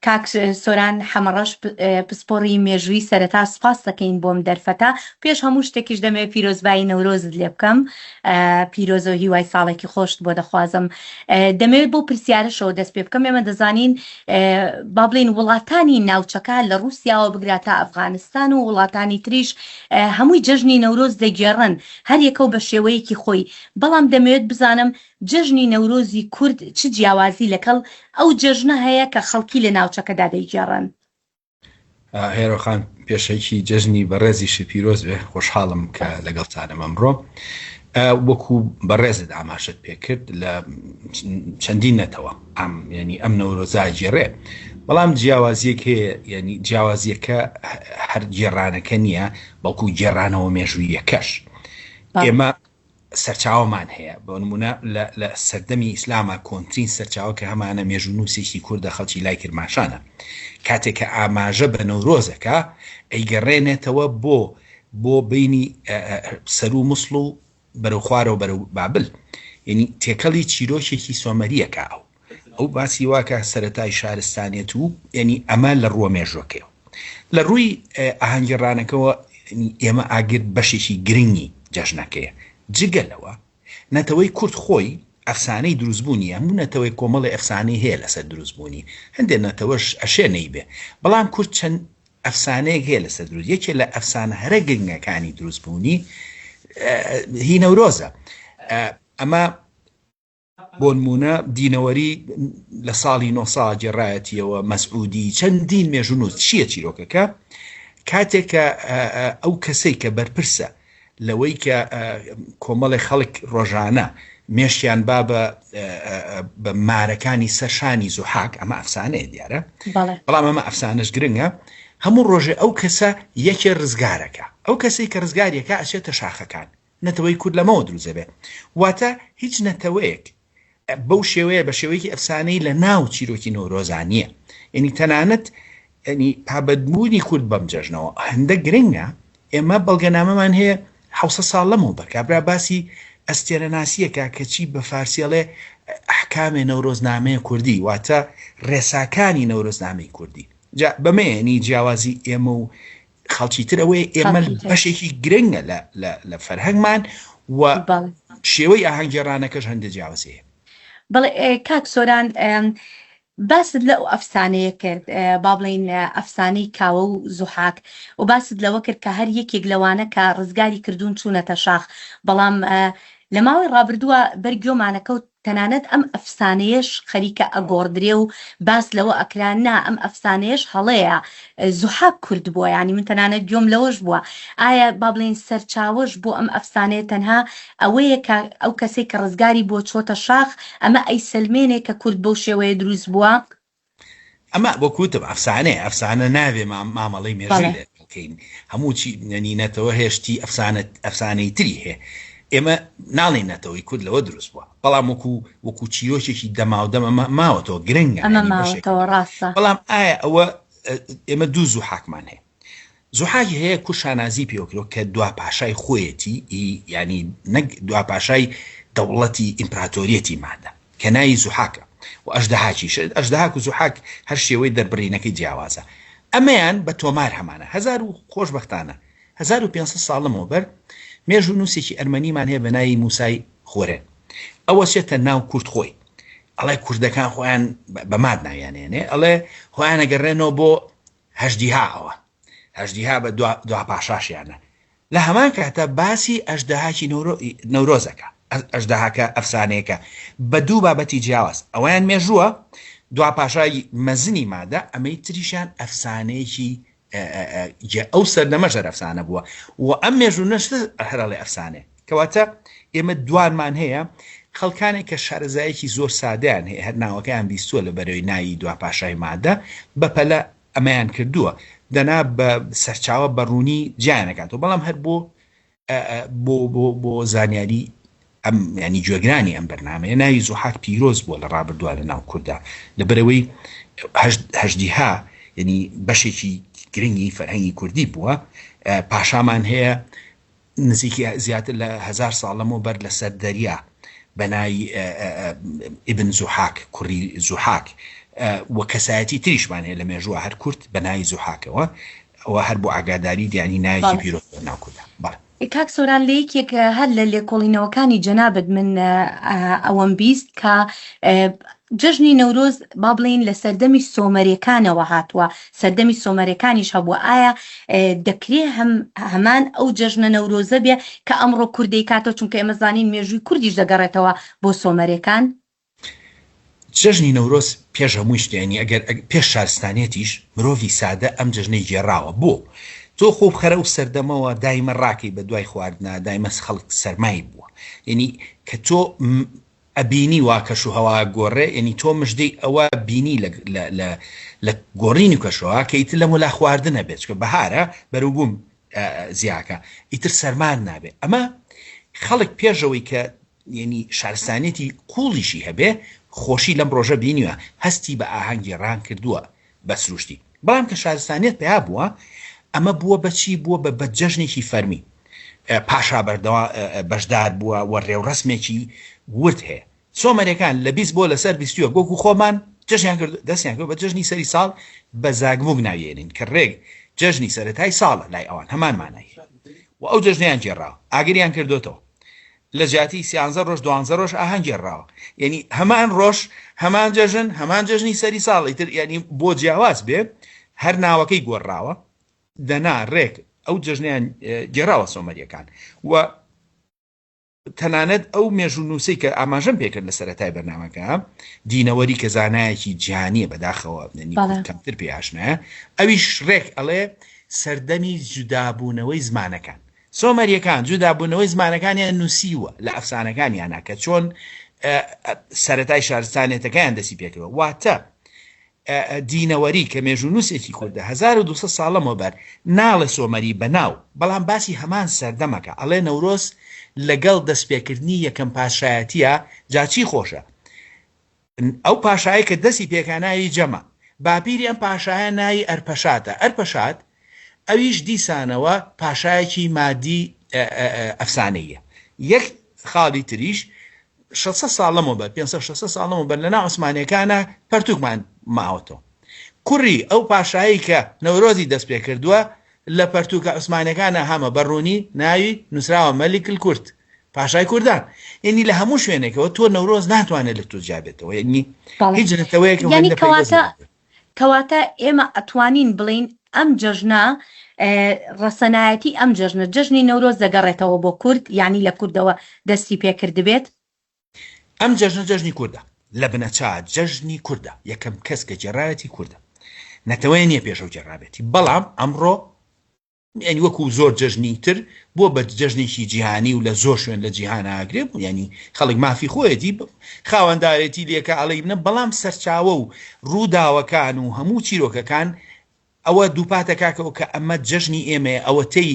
کاک سۆران حەمەڕەش پسپۆڕی مێژووی سەرەتا سوپاست دەکەین بۆم دەرفەتە پێش هەموو شتێکیش دەمەوێت پیرۆزبایی نەورۆزت لێ بکەم پیرۆزە و هیوای ساڵێکی خۆشت بۆ دەخوازم دەمەوێت بۆ پرسیارەشەوە دەست پێ بکەم ئێمە دەزانین با بڵین وڵاتانی ناوچەکە لە رووسیاوە بگرا تا ئەفغانستان و وڵاتانی تریش هەمووی جەژنی نەورۆز دەگێڕن هەریەکە و بە شێوەیەکی خۆی بەڵام دەمەوێت بزانم جەژنی نەورۆزی کورد چ جیاوازی لەکەڵ ئەو جەژنە هەیە کە خەڵکی لە ناوچەکەدا دەیگێڕن؟ هێرۆ خان پێشەکی، جەژنی بەڕێزی شت پیرۆز بێ، خۆشحاڵم کە لەگەڵتانم ئەمڕۆ. وەکو بەڕێزت ئاماژەت پێکرد لە چەندین نەتەوە ئەم یعنی ئەم نەورۆزا گێڕێ بەڵام جیاوازیەک هەیە یعنی جیاوازیەکە هەر گێڕانەکە نییە بەڵکو گێڕانەوە مێژوویەکەش ئێمە سەرچاوەمان هەیە بۆ نموونە لە لە سەردەمی ئیسلاما کۆنترین سەرچاوە کە هەمانە مێژوونووسێکی کوردە خەڵکی لای کرماشانە کاتێک کە ئاماژە بە نەورۆزەکە ئەیگەڕێنێتەوە بۆ بۆ بینی سەرو مسڵ و بەرەو خوارەوە بەرەو بابل یعنی تێکەڵی چیرۆکێکی سۆمەریەکە ئەو ئەو باسی وا کە سەرەتای شارستانیەت و یعنی ئەمە لە ڕووە مێژوەکەیەوە لە ڕووی ئاهەنگی ڕانەکەەوە ئێمە ئاگر بەشێکی گرنگی جەژنەکەیە جگە لەوە نەتەوەی کورد خۆی ئەفسانەی دروستبوونی هەموو نەتەوەی کۆمەڵی ئەفسانەی هەیە لەسەر دروستبوونی هەندێک نەتەوەش ئەشێ نەیبێ بەڵام کورد چەند ئەفسانەیەک هەیە لەسەر دروست یەکێ لە ئەفسانە هەرە گرنگەکانی دروستبوونی هی نەورۆزە ئەمە بۆنموونە دینەوەری لە ساڵی نۆ سا گێڕایەتیەوە، مەسعودی، چەندین مێژوونووس، چییە چیرۆکەکە؟ کاتێک کە ئەو کەسەی کە بەرپرسە لەوەی کە کۆمەڵێ خەڵک ڕۆژانە مێشکیان با بە بە مارەکانی سەر شانی زوحاک، ئەمە ئەفسانەیە دیارە، بەڵام ئەمە ئەفسانەش گرنگە، هەموو ڕۆژێ ئەو کەسە یەکێ ڕزگارەکە، ئەو کەسەی کە ڕزگاریەکا ئەچێتە شاخەکان، نەتەوەی کورد لەمەوە دروست دەبێت. واتە هیچ نەتەوەیەک بەو شێوەیە بە شێوەیەکی ئەفسانەی لە ناو چیرۆکی نەورۆزا نییە. یعنی تەنانەت ینی پابەدبوونی کورد بەم جەژنەوە هەندە گرنگە ئێمە بەڵگەنامەمان هەیە حوسە ساڵ لەمەوە بەر کابرا باسی ئەستێرەناسیەکە کەچی بە فارسیەڵێ ئەحکامێ نەورۆزنامەیە کوردی واتە ڕێساکانی نەورۆزنامەی کوردی جا بەمەیەنی جیاوازی ئێمە و خەڵکی تر ئەوەیە ئێمە بەشێکی گرنگە لە فەرهەنگمان و شێوەی ئاهەنگێڕانەکەش هەندە جیاوازەیە بەڵێ کاک سۆران باست لە ئەو ئەفسانەیە کرد با بڵین ئەفسانەی کاوە و زوحاک و باست لەوە کرد کە هەر یەکێک لەوانە کە ڕزگاری کردوون چوونەتە شاخ بەڵام لە ماوەی ڕابردووە بەرگۆمانەکەوت تەنانەت ئەم ئەفسانەیەش خەریکە ئەگۆڕدرێ و باس لەوە ئەکرا نا ئەم ئەفسانەیەش هەڵەیە زوحاک کورد بووە یانی من تەنانەت گوێم لەوەش بووە ئایا با بڵێین سەرچاوەش بۆ ئەم ئەفسانەیە تەنها ئەوەیە کە ئەو کەسەی کە ڕزگاری بووە چۆتە شاخ ئەمە ئەیسەلمێنێ کە کورد بەو شێوەیە دروست بووە؟ ئەمە وەک وتم ئەفسانەیە ئەفسانە نابێ مامەڵەی مێژووی لێ بکەین هەموو چی نەنی نەتەوە هێشتی ئەفسانە ئەفسانەی تری هەیە ئێمە ناڵێین نەتەوەی کورد لەوە دروست بووە بەڵام وەکو وەکو چیرۆکێکی دەماو دەمە ما- ماوەتەوە گرنگە ئەمە یعنی بەشێک ماوەتەوە ڕاستە بەڵام ئایا ئەوە ئێمە دوو زوو حاکمان هەیە زوحاک هەیە کور شانازی پێوە کرۆ کە دوا پاشای خۆیەتی ئی یانی نەک دوا پاشای دەوڵەتی ئیمپراتۆریەتی مادە کە ناوی زوحاکە و ئەژدەهاکیش ئەژدەهاک و زوحاک هەر شێوەی دەربڕینەکەی جیاوازە ئەمەیان بە تۆمار هەمانە هەزار و خۆشبەختانە 1500 ساڵمەوە بەر مێژوو نووسێکی ئەرمەنیمان هەیە بە ناوی موسای خۆرێن ئەوە چێتە ناو کورد خۆی ئەڵێ کوردەکان خۆیان بە ماد ناویانێنێ ئەڵێ خۆیانەگەڕێنەوە بۆ هەژدیها ئەوە هەژدیها بە دوا دوا پاشاشیانە لە هەمان کاتە باسی ئەژدەهاکی نەورۆ نەورۆزەکە ئەژدەهاکە ئەفسانەیەکە بە دوو بابەتی جیاواز ئەویان مێژووە دوا پاشای مەزنی مادە ئەمەی تریشان ئەفسانەیەکی ئەو سەردەمە ژەر ئەفسانە بووە و ئەم مێژوو نەشتە هەرڵێ ئەفسانێ کەواتە ئێمە دوانمان هەیە خەڵکانێک کە شارەزایەکی زۆر سادەیان هەیە هەر ناوەکەیان بیستووە لە بەرەوەی ناوی دوا پاشای مادە بەپەلە ئەمەیان کردووە دەنا بە سەرچاوە بەڕوونی جیانەکاتەوە بەڵام هەر بۆ بۆ بۆ بۆ زانیاری ئەم ینی گوێگرانی ئەم بەرنمەیە ناوی زوحاک پیرۆز بووە لە ڕابردووە لە ناو کووردا لە بەرەوەی هەشدیها ینی بەشێکی گرنگی فەرهەنگی کوردی بووە پاشامان هەیە نزیکی زیاتر لە هەزار ساڵ لەمەو بەر لە سەر دەریا بە ناوی، ابن زوحاک، کوڕی زوحاک، و کەسایەتی تریشمان هەیە لە مێژووە هەر کورد بە ناوی زوحاکەوە، ئەوە هەر بۆ ئاگاداری یانی ناوێکی پیرۆز بۆ ناو کوردا. بەڵێ. کاک سۆران لە یەکێک هەر لە لێکۆڵینەوەکانی جەنابت من ئەوەم بیست کە جەژنی نەورۆز با بڵێین لە سەردەمی سۆمەریەکانەوە هاتووە سەردەمی سۆمەرەکانیش هەبووە، ئایا دەکرێ هەم هەمان ئەو جەژنە نەورۆزە بێ کە ئەمڕۆ کورد دەیکاتەوە، چونکە ئێمە زانین مێژووی کوردیش دەگەڕێتەوە بۆ سۆمەرەکان؟ جەژنی نەورۆز پێش هەمووی شت یانی ئەگەر پێش شارستانیەتیش مرۆڤی سادە ئەم جەژنەی گێڕاوە بۆ تۆ خۆ بخەرە ئەو سەردەمەوە دایمە ڕاکەی بە دوای خواردنا دایمە خەڵک سەرمای بووە یانی کە تۆ ئەبینی وا کەش و هەوا ئەگۆڕێ یەنی تۆ مژدەی ئەوە بینی لە لە لە لە گۆڕینی کەش و هەوا کە ئیتر لەم وەلا خواردن ئەبێ چونکە بەهارە بەروبووم زیا ئەکا ئیتر سەرمان نابێ ئەمە خەڵک پێشەوەی کە یەنی شارستانیەتی قووڵیشی هەبێ خۆشی لەم ڕۆژە بینیوە هەستی بە ئاهەنگی ڕان کردووە بە سروشتی بەڵام کە شارستانیەت پەیا بووە ئەمە بووە بە چی بووە بە بە جەژنێکی فەرمی پاشا بەردەوا بەشدار بووە و ڕێوڕەسمێکی ورد هەیە سۆمەرەکان لە بیست بۆ لەسەر بیستوە گۆگو خۆمان جەژیان کرد دەستیان کرد بە جەژنی سەری ساڵ بە زاگبووک ناویێنین کە ڕێک جەژنی سەرەتای ساڵە لای ئەوان هەمان مانای و ئەو جەژنیان جێڕاو ئاگریان کردوێتەوە لە جیاتی سیانزە ڕۆژ دوانزە ڕۆژ ئاهەنگ گێڕراوە یەنی هەمان ڕۆژ هەمان جەژن هەمان جەژنی سەری ساڵ ئیتر یەنی بۆ جیاواز بێ هەر ناوەکەی گۆڕراوە دەنا ڕێک ئەو جەژنیان گێڕاوە سۆمەریەکان و تەنانەت ئەو مێژوو نووسی کە ئاماژەم پێکرد لە سەرەتای بەرنمەکە دینەوەری کە زانایەکی جیانیە بەداخەوە کەمتر پێ ئاشنایە ئەویش ڕێک ئەڵێ سەردەمی جودابوونەوەی زمانەکان سۆمەرییەکان جودابوونەوەی زمانەکانیان نووسیووە لە ئەفسانەکانیانا کە چۆن سەرەتای شارستانێتەکەیان دەسی پێکەوە واتە دینەوەری کە مێژوونووسێکی کوردە 1200 ساڵەمەوە بەر ناڵێ سۆمەری بەناو بەڵام باسی هەمان سەردەمەکە ئەڵێ نەورۆز لەگەڵ دەستپێکردنی یەکەم پاشایەتە جاچی خۆشە ئەو پاشایەی کە دەسی پێکا ناوی جەمە. باپیری ئەم پاشایە ناوی ئەرپەشاتە. ئەرپەشات ئەویش دیسانەوە پاشایەکی مادی ئەفسانەییە. یەک خاڵی تریش شەش سەد ساڵ لەمەوبەر، پێنج سەد شەش سەد ساڵ لەمەوبەر لە ناو عوسمانییەکانا پەرتووکمان ماوەتەوە. کوڕی ئەو پاشایەی کە نەورۆزی دەست پێ کردووە، لە پەرتووکە عوسمانییەکانا هەمە بە ڕوونی ناوی نووسراوە مەلیک الکورد. پاشای کوردان یعنی لە هەموو شوێنێکەوە تۆ نەورۆز ناتوانێت لە تۆ جیابێتەوە یعنی هیچ نەتەوەیەک کەواتە ئێمە ئەتوانین بڵین ئەم جەژنە ڕەسەنایەتی ئەم جەژنە جەژنی نەورۆز دەگەڕێتەوە بۆ کورد یعنی لە کوردەوە دەستی پێکردبێت ئەم جەژنە جەژنی کووردە لە بنەچا جەژنی کووردە یەکەم کەس کە جێراوەتی کووردە نەتەوەیە نیە پێشەو جێراوێتی بەڵام ئەمڕۆ یانی وەکو زۆر جەژنی تر بوە بە جەژنێکی جیهانی و لە زۆر شوێن لە جیهانا ئەگرێ بوو یانی خەڵک مافی خۆیەتی خاوەندارێتی لێکە ئەڵێی منە بەڵام سەرچاوە و ڕووداوەکان و هەموو چیرۆکەکان ئەوە دووپات دەکاتەوە کە ئەمە جەژنی ئێمەیە ئەوەتەی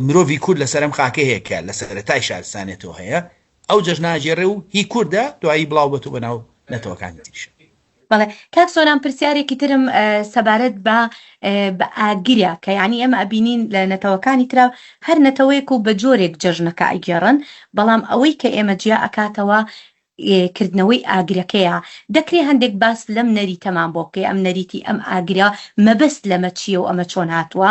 مرۆڤی کورد لەسەر ئەم خاکە هەیە کە لە سەرەتای شارستانێتەوە هەیە ئەو جەژناگێڕێ و هی کوردە دوایی بڵاو بەتەوە بەناو نەتەوەکانی تریش بەڵێ کاک سۆران پرسیارێکی ترم سەبارەت بە بە ئاگرە کە یعنی ئێمە ئەبینین لە نەتەوەکانی ترا هەر نەتەوەیەک و بە جۆرێک جەژنەکە ئەگێڕن بەڵام ئەوەی کە ئێمە جیا ئەکاتەوە کردنەوەی ئاگرەکەیە دەکرێ هەندێک باس لەم نەریتەمان بۆ بکەی ئەم نەریتی ئەم ئاگرە مەبەست لەمە چییە و ئەمە چۆن هاتووە؟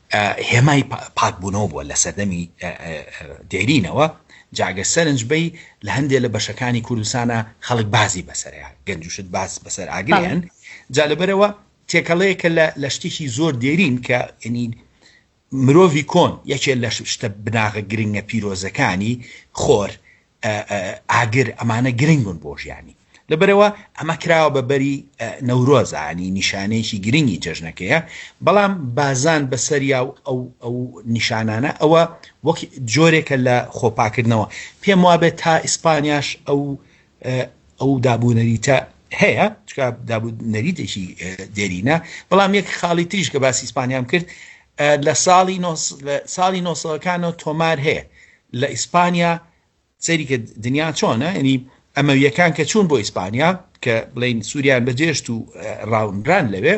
هێمای پاکبوونەوە بووە لە سەردەمی دێرینەوە، جاگە سەرنج بەی لە هەندێ لە بەشەکانی کوردستانا خەڵک بازی بەسەرە گەنج و شت باز بەسەر ئاگرێن، جا لەبەرەوە تێکەڵەیەکە لە لە شتێکی زۆر دێرین کە یەنی مرۆڤی کۆن یەکێ لە شتە بناغە گرنگە پیرۆزەکانی خۆر ئاگر ئەمانە گرنگن بۆ ژیانی لەبەرئەوە ئەمە کراوە بە بەری نەورۆزانی نیشانەیەکی گرنگی جەژنەکەیە بەڵام بازان بەسەریا و ئەو ئەو نیشانانە ئەوە وەک جۆرێکە لە خۆپاکردنەوە پێم وابێت تا ئیسپانیاش ئەو ئەو دابوونەریتە هەیە چکە دابوو نەریتێکی دێرینە بەڵام یەک خاڵی تریش کە باسی ئیسپانیام کرد لە ساڵی ساڵی نۆسەکانەوە تۆمار هەیە لە ئیسپانیا سەیری کە دنیا چۆنە یعنی ئەمەویەکان کە چوون بۆ ئیسپانیا کە بڵین سووریان بەجێشت و ڕاونران لەوێ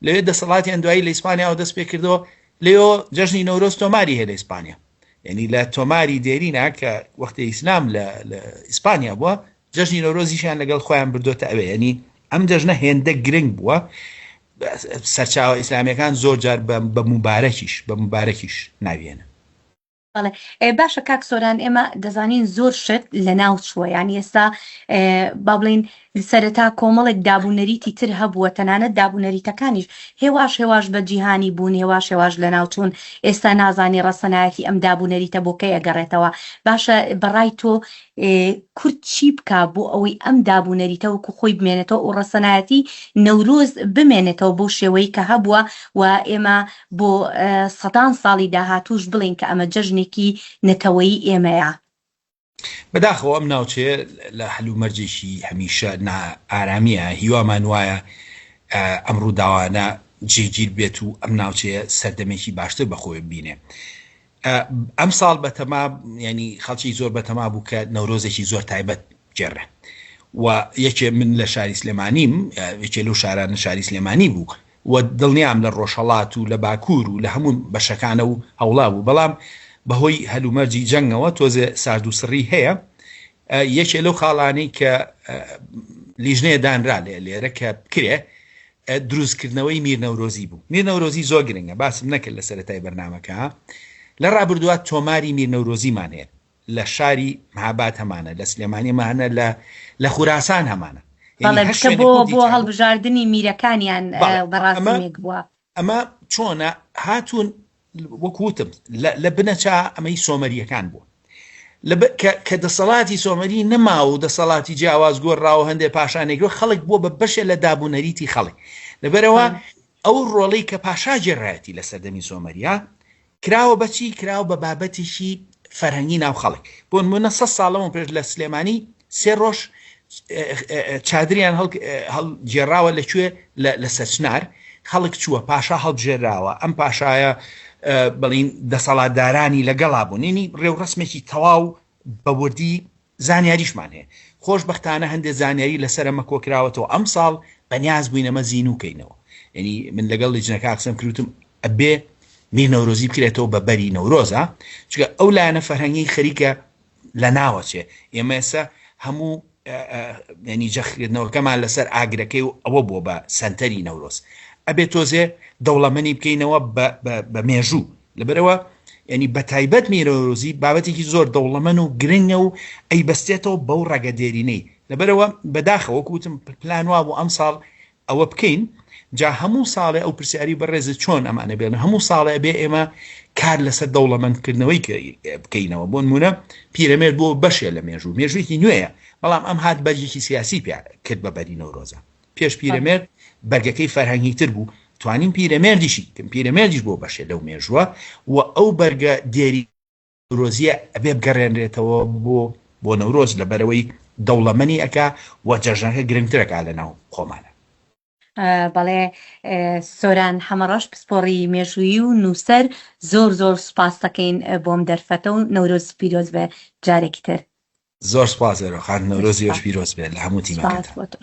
لەوێ دەسەڵاتیان دوایی لە ئیسپانیاەوە دەست پێ کردەوە لەۆ جەژنی نەورۆز تۆماری هەیە لە ئیسپانیا یعنی لە تۆماری دێرینا کە وەختی ئیسلام لە ئیسپانیا بووە جەژنی نەورۆزیشیان لەگەڵ خۆیان بردوێتە ئەوێ ینی ئەم جەژنە هێندە گرنگ بووە سەرچاوە ئیسلامیەکان زۆر جار بە مبارەکیش بە مبارەکیش ناویێنە بەڵێ باشە کاک سۆران ئێمە دەزانین زۆر شت لە ناو چووە یانی ئێستا با بڵین سەرەتا کۆمەڵێک دابوونەریتی تر هەبووە تەنانەت دابوونەریتەکانیش هێواش هێواش بە جیهانی بوون هێواش هێواش لە ناوچوون ئێستا نازانانی ڕەسەنایەتی ئەم دابوونەریتە بۆکەی ئەگەڕێتەوە باشە بەڕای تۆ کورد چی بک بۆ ئەوەی ئەم دابوونەریتە وەکو خۆی بمێنێتەوە و ڕەسەنایەتی نەورۆز بمێنێتەوە بۆ شێوەی کە هەبووە و ئێمە بۆ سەدان ساڵی داهاتووش بڵێین کە ئەمە جەژنێکی نەتەوەیی ئێمەیە. بەداخەوە ئەم ناوچەیە لە هەلومەرجێکی هەمیشە نائارامیە، هیوامان وایە ئەم ڕووداوانە جێگیر بێت و ئەم ناوچەیە سەردەمێکی باشتر بەخۆوێ ببینێ. ئەم ساڵ بەتەما ینی خەڵکی زۆر بەتەما بوو کە نەورۆزێکی زۆر تایبەت جێڕێ و یەکێ من لە شاری سلێمانیم یەکێ لەو شارانە شاری سلێمانی بوو و دڵنیام لە ڕۆژهڵات و لە باکوور و لە هەموو بەشەکانە و هەوڵا بوو بەڵام بەهۆی هەلومەرجی جەنگەوە تۆزێ سارد و سڕی هەیە یەکێ لەو خاڵانەی کە لیژنەیە دانرا لێ لێرە کە بکرێ دروستکردنەوەی میر نەورۆزی بوو. میر نەورۆزی زۆر گرنگە، باسم نەکرد لە سەرەتای بەرنامەکە. لە ڕابردووا تۆماری میر نەورۆزیمان هەیە، لە شاری مهاباد هەمانە، لە سلێمانی هەمانە، لە لە خوراسان هەمانە. یانی هەر شوێنێک بوو دیجا بوو. بەڵێ، کە بۆ هەڵبژاردنی میرەکانیان بەڕاستیمێک بووە. ئەمە چۆنە، هاتوون وەک وتم لە بنەچە ئەمەی سۆمەریەکان بوو کە دەسەڵاتی سۆمەری نەما و دەسەڵاتی جیاواز گۆڕراوە هەندێک پاشانێکەوە خەڵک بووە بە بەشێ لە دابوونەریتی خەڵک لەبەرەوە ئەو ڕۆڵی کە پاشا جێڕایەتی لە سەردەمی سۆمەریا کراوە بەچی کراوە بە بابەتێکی فەرهەنگی ناو خەڵک بۆنمونە سەد ساڵ لەمەو پێش لە سلێمانی سێ ڕۆژ چادریان هەڵ گێراوە لە کوێ لە سەچنار خەڵک چووە پاشا هەڵبژێراوە ئەم پاشایە بڵین دەسەڵاتدارانی لەگەڵا بوونینی ڕێوڕسمێکی تەواو بەوردی زانیاریشمان هەیە. خۆشبەختانە هەندێ زانیاری لەسەر ئەمە کۆکراوەتەوە ئەمساڵ بەنیاز بووین ئەمە زینوو کەینەوە یەنی من لەگەڵ لیجنەکە قسەم کرد وتم ئەبێ میر نەورۆزی بکرێتەوە بە بەری نەورۆزا چونکە ئەو لایەنە فەرهەنگی خەریکە لە ناوەچێ ئێمە ئێستا هەموو یەنی جەخکردنەوەکەمان لەسەر ئاگرەکەی و ئەوە بووە بە سەنتەری نەورۆز ئەبێ تۆزێ دەوڵەمەنی بکەینەوە بە مێژوو لەبەرەوە ینی بەتایبەت میرۆزی بابەتێکی زۆر دەوڵەمەن و گرنگە و ئەی بەستێتەوە بەو ڕەگە دێرینەی لەبەرەوە بەداخەوە کوتم پلان وا بۆ ئەم ساڵ ئەوە بکەین جا هەموو ساڵێ ئەو پرسیاری بەڕێز چۆن ئەمانە بێن هەموو ساڵێ بێ ئێمە کار لەسەر دەوڵەمەندکردنەوەی بکەینەوە بۆ نمونە پیرەمێر بۆ بەشێ لە مێژوو مێژوویی نوێیە بەڵام ئەم هاات بەرجێکی سیاسی پێ کرد بە بەری نەورۆزە پێش پیرەمێرد بەرگەکەی فەرهەنگی تر بوو توانیم پیرەمێردیشی کەم پیرەمێردیش بۆ بەشێ لەو مێژووە و ئەو بەرگە دێری نورۆزیە ئەبێ بگەڕێنرێتەوە بۆ بۆ نەورۆز لە بەرەوەی دەوڵەمەنی ئەکا و جەژنەکە گرنگترەکە لە ناو خۆمانە. بەڵێ سۆران حەمەڕەش پسپۆڕی مێژوویی و نووسەر زۆر زۆر سوپاستەکەین بۆم دەرفەتە و نەورۆز پیرۆز بێ جارێکی تر. زۆر سوپاس ئێرۆ خان نەورۆزی ئێوەش پیرۆز بێت لە هەموو تیمەکەتان.